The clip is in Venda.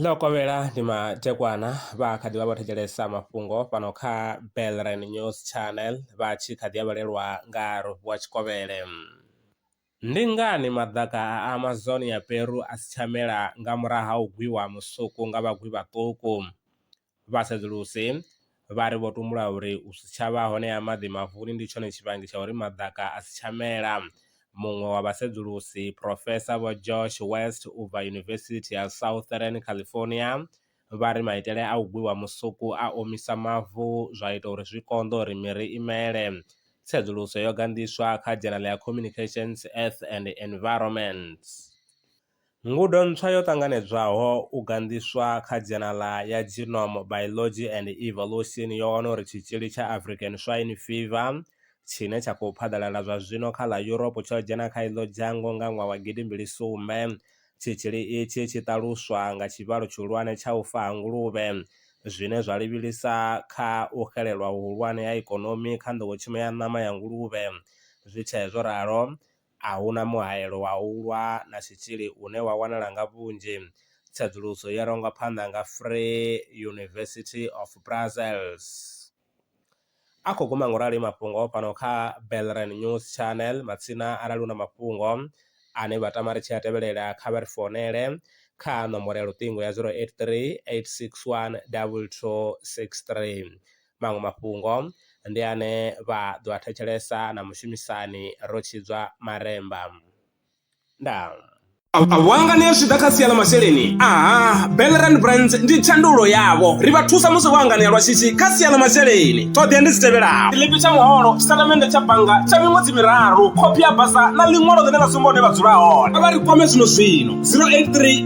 ḽo kovhela ndi matekwana vha kha ḓi vha vho thetshelesa mafhungo fhano kha belren news channel vha tshi kha ḓi a vhalelwa nga rovu wa tshikovhele ndi ngani maḓaka a amazon ya peru a si tsha mela nga murahu ha u gwiwa musuku nga vhagwi vhaṱuku vha sedzuluse vha ri vho tumbula uri u si tsha vha hone ha maḓi mafuni ndi tshone tshivhangi tsha uri maḓaka a si tsha mela. Muṅwe wa vhasedzulusi, Profesa Vho Josh West u bva Yunivesithi ya Southern California, vha ri maitele a u gwiwa musuku a omisa mavu zwa ita uri zwi konḓe uri miri i mele. Tsedzuluso yo ganḓiswa kha dzhenala ya Communications, Earth and Environment. Ngudo ntswa yo ṱanganedzwaho u ganḓiswa kha dzhena ḽa ya Genome Biology and Evolution yo wana uri tshitzhili tsha African Swine Fever tshine tsha khou phaḓalala zwa zwino kha ḽa Europe tsho dzhena kha iḽo dzhango nga ṅwaha wa gidi mbili sumbe. Tshitzhili itshi tshi ṱaluswa nga tshivhalo tshihulwane tsha u fa ha nguluvhe, zwine zwa livhilisa kha u xelelwa huhulwane ha ikonomi kha nḓowetshumo ya ṋama ya nguluvhe. Zwi tshee zwo ralo, a hu na muhaelo wa u lwa na tshitzhili une wa wanala nga vhunzhi. Tsedzuluso yo rangwa phanḓa nga Free University of Brussels. A khou guma ngorali mafhungo fhano kha Belren News Channel matsina arali u na mafhungo ane vha tama ri tshi a tevhelela kha vha ri founele kha nomboro ya luṱingo ya 083 861 2263. Maṅwe mafhungo ndi ane vha ḓo a thetshelesa na mushumisani ro tshidzwa maremba. Ndaa. Wanga ni a zwi ḓa kha sia ḽa masheleni? Aha, Bellerand Brands ndi tshandulo yavho. Ri vha thusa musi vho anganea lwa shishi kha sia ḽa masheleni. Ṱhoḓea ndi dzi tevhelaho. Tshiḽipi tsha muholo, tshitatamennde tsha bannga tsha miṅwedzi miraru, khophi ya basa na ḽiṅwalo ḽine ḽa sumba hune vha dzula hone. Kha vha ri kwame zwino zwino, 083.